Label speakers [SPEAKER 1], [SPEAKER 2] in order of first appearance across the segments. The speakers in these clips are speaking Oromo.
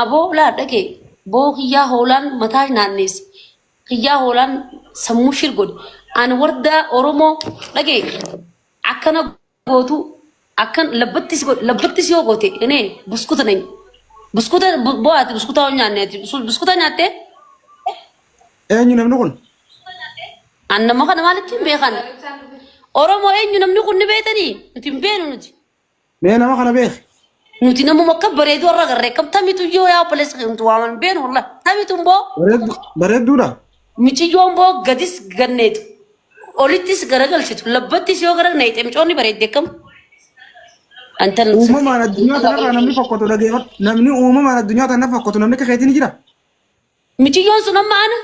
[SPEAKER 1] Aboo laa dhaqee boo kiyyaa hoolaan mataa naanneesse kiyyaa hoolaan sammuu shir godhe an wardaa oromoo dhaqee akkana gootu akkan labbatti si godhe labbatti si yoo goote inee buskuta nany buskuta bu- boo ati buskuta yoo nyaanne ati bus- buskuta nyaattee
[SPEAKER 2] Eenyu namni kun? an
[SPEAKER 1] nama kana maalitti hin beekan oromoo eenyu namni kun ni beetanii nuti hin beenu nuti Mee nama kana
[SPEAKER 2] beeki. Nuti namuma akka
[SPEAKER 1] bareedu irra garree kam tamitu yoo yaa obboleessa kee nuti waaman beenu wallah tamitu imboo Bareeddu bareedduudha.
[SPEAKER 2] miciyyoo
[SPEAKER 1] imboo gadis ganneetu olittis garagalchitu labbattis yoo gara neexee micoonni bareedde kam antan Uumamaan addunyaa
[SPEAKER 2] kanarraa namni fokkatu dhageeffadhu. Namni uumamaan addunyaa kanarra fokkatu namni akka keetii ni jira. miciyyoon
[SPEAKER 1] sun amma ana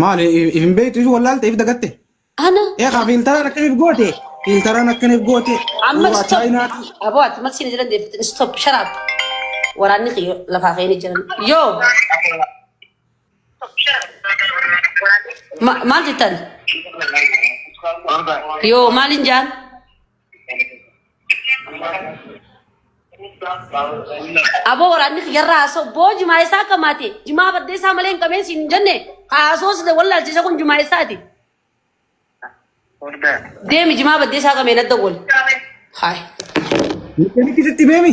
[SPEAKER 2] Maali if hin beektu if wallaalte if dagatte. Ana Eegaa
[SPEAKER 1] fiiltaraan
[SPEAKER 2] akkaniif goote. Fiiltaraan akkaniif goote. amma Suuraa stop. chaayinaati.
[SPEAKER 1] Aboo ati mal siin jiran deebitin stop sharaab. Waraanni kiyyo lafaa ka'ee ni jiran. Yoo ma- maal jettan? Yoo maaliin jaan? Aboo waraanni kiyyarraa haasoo boo jimaa isaa akka maate jimaa baddee isaa malee hin qabeen siin hin jenne haasoo sida wallaalchisa kun jimaa isaati. Deemi jimaa baddee isaa qabeen adda wal. Haay.
[SPEAKER 2] Mikkanitti sitti beemi.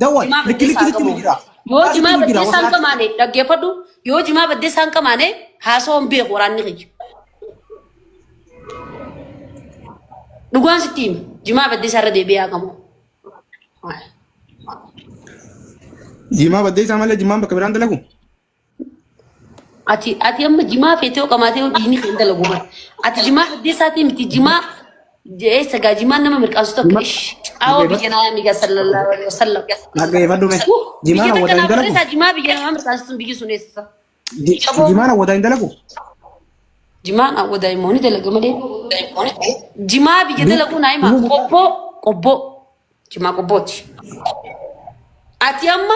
[SPEAKER 2] Dawwal Jimaa likki baddeessaa likki sitti qabu. jijjiira. Yoo Dhugaa jimaa sitti jijjiira
[SPEAKER 1] baddeessaa hin wasaati. qamaane dhaggeeffadhu. Yoo jimaa baddeessaa hin qamaane haasawaa hin beeku waraanni kiyya. Dhugaan sitti hima. Jimaa baddeessaa irra deebi'ee haa qabu.
[SPEAKER 2] Jimaa baddeessaa malee jimaan bakka biraan dalagu.
[SPEAKER 1] Ati ati amma jimaa feetee qamaatee dhiigni kan dalagu bara. Ati jimaa addeessaatii miti jimaa eessa gaa jimaan nama mirqaansu takka Jima- ish caawoo Jima- biyya namaa migaa sallallahu alaihi wasallam. Dhaggeeffadhu mee. Jimaan
[SPEAKER 2] Biyya hawwataa takka hin naaf dalagu. barreessaa jimaa biyya namaa mirqaansu
[SPEAKER 1] sun biyyi sun eessa? Ji- Caboo. Jimaan
[SPEAKER 2] hawwataa hin dalagu.
[SPEAKER 1] Jimaan awwa daa'immoonni dalaga malee. Jimaa biyya dalaguu naa himaa qobboo qobboo. Jimaa qobbooti. Ati amma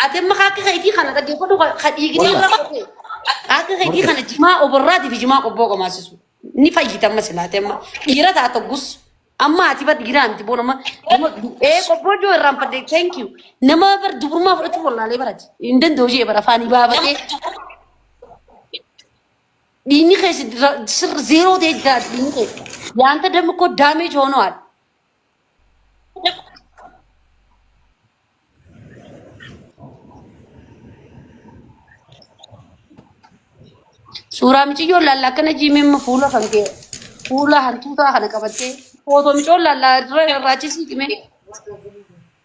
[SPEAKER 1] ati amma ka akka keetii kana dhaggeeffadhu ka ka dhiigni irra qofe. Ka akka keetii kana jimaa oborraatii fi jimaa qobboo qomaasisu. Ni fayyita amma silaate amma dhiira taata gus. Amma ati bar dhiiraa miti boon amma nama ee qobboo joo irraan fadde thank you. Nama bar dubrummaa fudhachuu wallaalee barati. Hin danda'u jee bara afaanii baabatee. Dhiinni kee sirri zeeroo ta'e jiraatu dhiinni kee. Yaanta dammi koo daameej hoonoo haadha. Suuraa miciyyoon laallaa akkana jiimimma fuula kan kee fuula hantuutaa kana qabattee footoo micoon laallaa irra irraachisii cimee.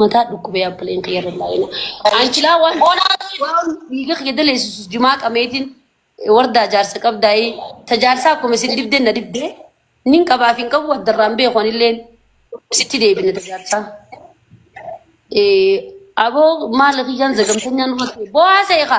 [SPEAKER 1] Mataa dhukkubee abbaleen kiyya irra laayina. Anchilaa waan waan dhiiga kiyya daleessisu jimaa qameetiin wardaa jaarsa qabdaa'e ta jaarsaa akkuma isin dibdeen na dibdee nin qabaaf hin qabu addarraan beeku anilleen sitti deebina ta jaarsaa. Eh, Aboo maala kiyyaan zagamtanyaan irratti bo'aa seeqa.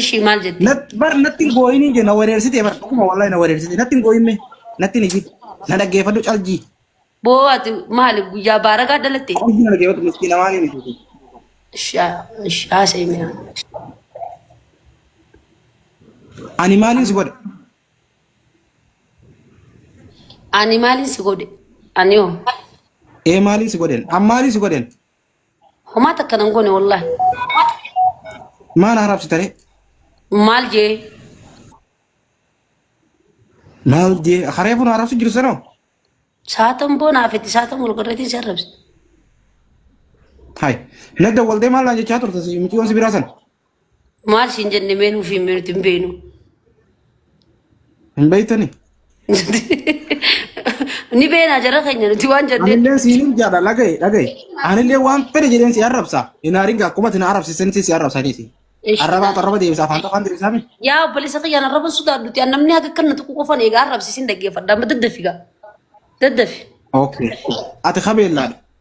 [SPEAKER 1] Ishii maal jettee? Nat- bar natti hin gooyinii
[SPEAKER 2] jee na wareersitee bar dhuguma wallahi na wareersitee natti hin gooyinme natti hin iyyin na dhaggeeffadhu caljii Boo ati
[SPEAKER 1] maali guyyaa baaragaa dhalatte? caljii na dhaggeeffadhu miskiina
[SPEAKER 2] maaliin itti Ishaa ishaa
[SPEAKER 1] seemina.
[SPEAKER 2] ani maaliin si godhe
[SPEAKER 1] Ani maaliin si godhe? Ani hoo? ee
[SPEAKER 2] maaliin si godhen an maaliin si godhen Homaa
[SPEAKER 1] takka nan goone wallahi.
[SPEAKER 2] Maal haaraaf sitaree? Maal
[SPEAKER 1] jee?
[SPEAKER 2] Maal jee? Haree buna haaraaf si jiru sanoo? Saatan
[SPEAKER 1] boonaa fetti saatan wal godhatiin si arrabse.
[SPEAKER 2] Hai. Nagda waldee maal naan jechaa turte si miciyyoon si biraa san? Maal
[SPEAKER 1] siin jenne mee nuuf himi nuti hin beenu.
[SPEAKER 2] Hin beeytani.
[SPEAKER 1] Ni beenaa jara keenya nuti waan jennee. Anillee siin jaadha
[SPEAKER 2] dhagaye dhagaye. Anillee waan fedhe jedheen si arrabsa. Hin haaringa akkuma isin arrabsisan si arrabsa keesi. Ish. Arrabaa arraba deebisa afaan afaan deebisa mi? Yaa obboleessa kiyyaan arraba
[SPEAKER 1] sodaadhuti. An namni akka kan nuti qofan egaa arrabsiisin dhaggeeffadha. Amma daddafi gaa. Daddafi. Okay.
[SPEAKER 2] Ati kabeellaadha.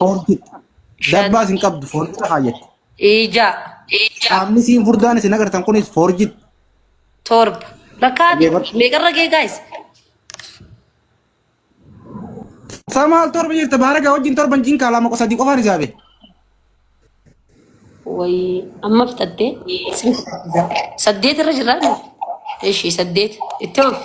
[SPEAKER 2] Foorti. Dabbaas hin qabdu foorjidha kaayyatti. Ija.
[SPEAKER 1] Qaamni
[SPEAKER 2] siin furdaan isin agartan kunis foorjidha. Torba.
[SPEAKER 1] Bakka Dhaggeeffadhu. meeqarra gee gaayis? Isaa
[SPEAKER 2] maal torba jirta baaragaa wajjin torban jinkaa lama qofa sadii qofaan isaa bee.
[SPEAKER 1] Wayii amma fixattee saddeet irra jirra. Eshi saddeet itti oofi.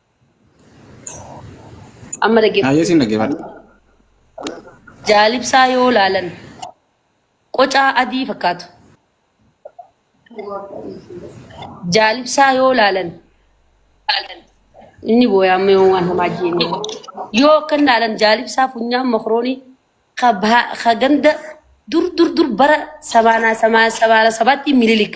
[SPEAKER 1] Amma Hayyee dhaggeeffadhu. siin dhaggeeffadha. Jaalibsaa yoo ilaalan qocaa adii fakkaatu. Jaalibsaa yoo ilaalan inni booyaa amma yoo waan hamaa jenne yoo akka hin ilaalan jaalibsaa funyaan makroonii ka baha- ka ganda dur dur dur bara sabaanaa samaa sabaana sabaatti mililik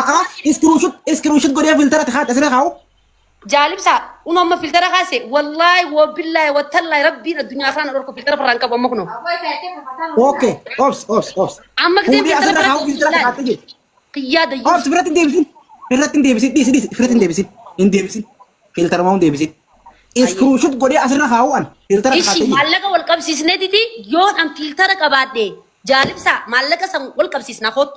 [SPEAKER 1] A'aa iskruushut iskruushut
[SPEAKER 2] godhee filtara tahaat asirra kaa'u. Jaalibsaa
[SPEAKER 1] unu amma filtara kaase wallaahi wabillaahi wattallaahi rabbiin addunyaa kanaan dhorku filtara farraan qabu amma kunoo.
[SPEAKER 2] Okay obs obs obs. Amma giseen Fuudhee filtara
[SPEAKER 1] asirra kaa'u biratti filtara tahaat laal. jechuudha. Kiyyaa dayyuu. Obs biratti hin deebisin.
[SPEAKER 2] Irratti hin deebisin dhiisi dhiisi irratti hin deebisin hin deebisin filtaruma hin deebisin. Iskruushut godhee asirra kaa'u an filtara tahaat Ishi jechuudha. maallaqa wal
[SPEAKER 1] qabsiisnee didi yoon an filtara qabaadhe jaalibsaa maallaqa san wal qabsiisna kootu.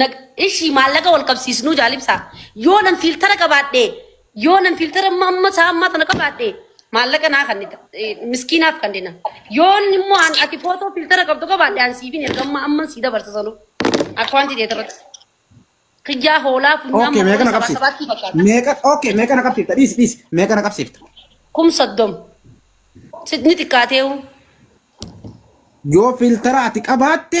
[SPEAKER 2] Nag-
[SPEAKER 1] Ishi maallaqa wal qabsiisnuu jaalibsaa. Yoo nan fiiltara qabaadhe, yoo nan fiiltara amma amma isaa ammaa tana qabaadhe, maallaqa naa kan miskiinaaf kan dina. Yoo inni immoo an ati footoo fiiltara qabdu qabaadhe an siifin erga amma amma sii dabarsa sanuu. Akkawantii ta'e irratti. Kiyyaa hoolaa funyaan Okay, meeqa na sabaa qabsiifta? sabaatti
[SPEAKER 2] fakkaata. Meeqa okay, meeqa na qabsiifta?
[SPEAKER 1] Dhiisi
[SPEAKER 2] dhiisi. Meeqa na qabsiifta? Kum
[SPEAKER 1] soddom. Ni xiqqaateewu.
[SPEAKER 2] Yoo filtara ati qabaatte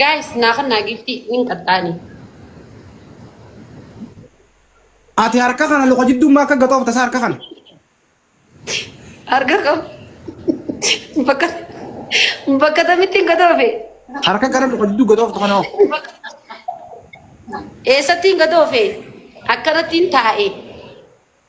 [SPEAKER 1] Guys, naa kan naa giftii nin qaxxaani.
[SPEAKER 2] Ati harka kana luka jiddummaa akka gatoofta isaa harka kana. Harka
[SPEAKER 1] qabu. Bakka bakka tamitti hin gadoofe. Harka gara luka
[SPEAKER 2] jidduu gatooftu kana hoo.
[SPEAKER 1] Eessatti hin gadoofe. Akkanatti hin taa'e.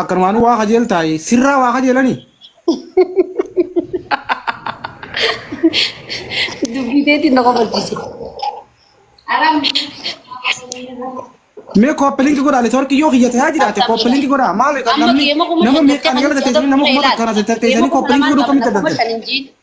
[SPEAKER 2] Akkanumaan waa kajeeltaa sirraa waa kajeelanii.
[SPEAKER 1] Dubbii teetiin na kofalchiise.
[SPEAKER 2] Mee kooppelinki godhaa networkii yoo kiyya ta'aa jiraate kooppelinki godhaa maal Amma namni keema kuma nama shan meeqaan tokko jala ta'e teessanii nama kuma tokko kana teessanii kooppelinki godhuu akkamitti adda ta'e?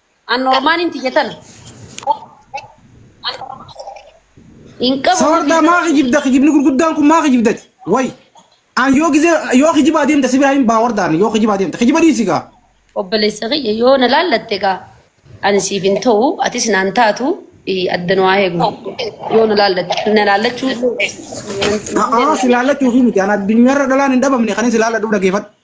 [SPEAKER 1] An normaaniin tiyya tana. Hin qabu. Sawardaa maa
[SPEAKER 2] kijibda kijibni gurguddaan kun maa kijibdati way an yoo gizee yoo kijibaa deemta si biraa hin baa wardaan yoo kijibaa deemta kijiba dhiisi gaa Obboleessa kiyya
[SPEAKER 1] yoo na laallatte gaa ani siif hin ta'u atis naan taatu eh, adda nu haa eegnu. Yoo na laallatte na laallachuu
[SPEAKER 2] a'aa si laallachuuf miti an addunyaarra dhalaan hin dhabamne kan si laalladhu dhageeffadhu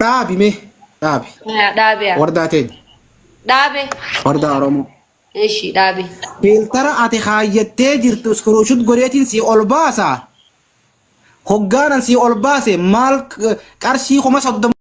[SPEAKER 2] Dhaabi mee dhaabi. Haa, Dhaabe haa. Wardaa
[SPEAKER 1] teenya.
[SPEAKER 2] Dhaabe.
[SPEAKER 1] Wardaa Oromoo.
[SPEAKER 2] Ishi dhaabe.
[SPEAKER 1] Filtara
[SPEAKER 2] ati kaayyattee jirtu iskruushut godheetiin sii ol baasaa. Hoggaanan sii ol baase maal qarshii kuma soddoma.